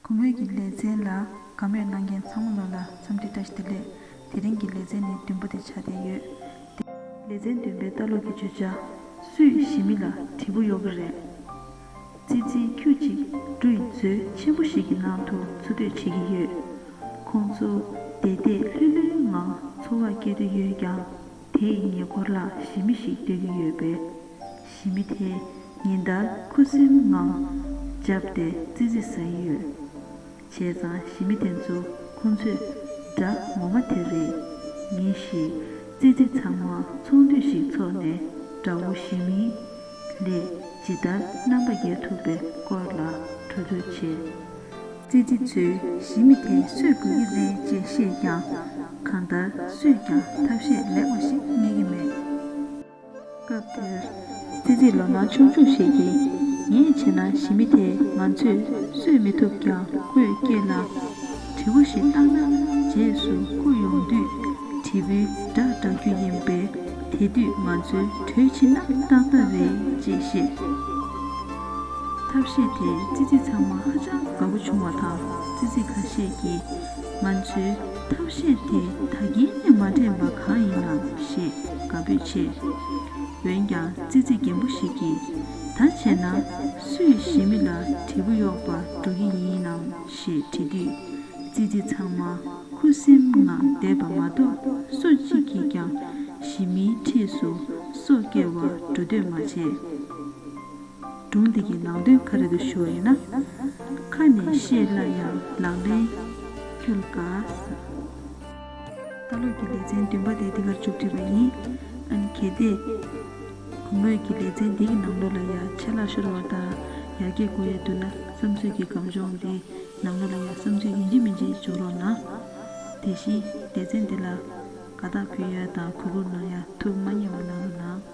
གུང་ཨུད་ཀྱི་ལས་ཚན་ལ་དགའ་མོས་གནང་མཁན་ཚང་མ་ལ་ལ་འཚམས་འདྲི་བཀྲ་ཤིས་བདེ་ལེགས། དེ་རིང་གི་ལས་ཚན་ནི་བདུན་པོ་དེ་ཆགས་བསྡད་ཡོད་དེ། ལས་ཚན་བདུན་པའི་ལྟ་ལོག་གི་བརྗོད་བྱ། སུས་ཞི་མི་ལ་དྲི་བོ་གཡོག་གི་རེད། ཙི་ཙི་ཁྱུ་གཅིག་སྦྲུ་ཡི་མཛོད་ཆེན་པོ་ཞིག་གི་ནང་དུ་འཚོ་སྡོད་བྱེད་ཀྱི་ཡོད། ཁོང་ཚོ་བདེ་བདེ་ལྷོད་ལྷོད་ངང་འཚོ་བ་སྐྱེལ་དུ་ཡོད་ཀྱང་དེ་ཡི་ཉེ་འཁོར་ལ་ཞི་མི་ཞིག་སྡོད་ཀྱི་ཡོད་པས། ཞི་མི་དེས་ཉིན་ལྟར་ཁུ་སིམ་ངང་བརྒྱབ་སྟེ་ཙི་ཙི་ཟ་ཡི་ཡོད། བྱས་ཙང་ཞི་མི་དེ་ཚོ་ཁོང་ཚོས་དགྲ་ངོ་མ་དེ་རེད། ཉིན་ཞིག་ཙི་ཙི་ཚང་མ་ཚོང་འདུས་ཤིག་འཚོགས་ནས་དགྲ་བོ་ཞི་མི་ལས་ཇི་ལྟར་རྣམ་པ་རྒྱལ་ཐུབ་པའི་སྐོར་ལ་གྲོས་བསྡུར་བྱས། ཙི་ཙི་ཚོས་ཞི་མི་དེ་གསོད་དགོས་ཀྱི་རེད་ཅེས་བཤད་ཀྱང་གང་ལྟར་སུས་ཀྱང་ཐབས་ཤེས་ལེགས་པ་ཞིག་རྙེད་ཀྱི་མེད། སྐབས་དེར། སྲིད་འཛིན་ལོ་མང་ཆུང་ཆུང་ཞིག་གིས། ངས་བྱས་ན་ཞི་མི་དེས་ང་ཚོས་གསོད་མི་ཐུབ་ཀྱང་ཁོས་སྐྱེས་ལ། དྲི་བོ་ཞིག་བཏང་ན་རྗེས་སུ་བསྐུར་ཡོང་དུས། དྲིལ་བུའི་སྒྲ་བསྒྲག་རྒྱུ་ཡིན་པས་དེ་དུས་ང་ཚོའི་གྲོས་མཆིས་ན་སྟབས་མ་རེད་ཅེས་བཤད། ཐབས་ཤེས་དེས་ཙི་ཙི་ཚང་མ་ཧ་ཅང་དགའ་པོ་བྱུང་བ་དང་ཙི་ཙི་ཁ་ཤས་ཀྱིས་ང་ཚོའི། ཐབས་ཤེས་དེ་ད་གིན་ནས་མ་དྲན་པ་གང་ཡིན་ནམ་ཞེས་དགའ་འབོད་ཆེ། འོན་ཀྱང་ཙི་ཙི་རྒན་པོ་ཞིག་གིས་ད་བྱས་ན་སུས་ཞི་མི་ལ་དྲིལ་བུ་གཡོག་པར་འགྲོ་གི་ཡིན་ནམ་ཞེས་དྲིས་དུས། ཙི་ཙི་ཚང་མ་ཁུ་སིམ་ངང་བསྡད་པ་མ་གཏོགས་སུ་གཅིག་གིས་ཀྱང་ཞི་མིའི་འཁྲིས་སུ་སོ་སྐྱེ་བར་འགྲོ་འདོད་མ་བྱས། སྒྲུང་འདི་གི་ནང་དོན་ག་རེ་དུ་ཤོར་ཡོད་ན། ཁ་ནས་བཤད་སླ་ཡང་ལག་ལེན་ཁྱོད་ལ་དགའ་ས། ལྟ་ལོག་གི་ལེ་ཚན་བདུན་པ་དེ་འདི་གར་བཅུག་བྲིས་པ་ཡིན། ཨ་ནི་གལ་ཏེ། གུས་མོས་ཀྱི་ལེ་ཚན་འདི་གི་ནང་ལོག་ལ་ཡར་ཆད་ལག་ཤོར་བ་དང་ཡར་རྒྱས་དགོས་ཡས་འདུག་ན་བསམ་ཚུལ་གྱི་སྒམ་གཞོང་འདི་ནང་ལོག་ལ་ཡར་བསམ་ཚུལ་ཡིན་གཅིག་མིན་གཅིག་འཇོག་རོགས་གནང། དེ་བཞིན་ལེ་ཚན་འདི་ལ་དགའ་རྟགས་ཕུལ་ཡས་དང་གུས་བཀུར་གནང་ཡས་ཐུགས་མ་མཉེས་བ་གནང་རོགས་གནང།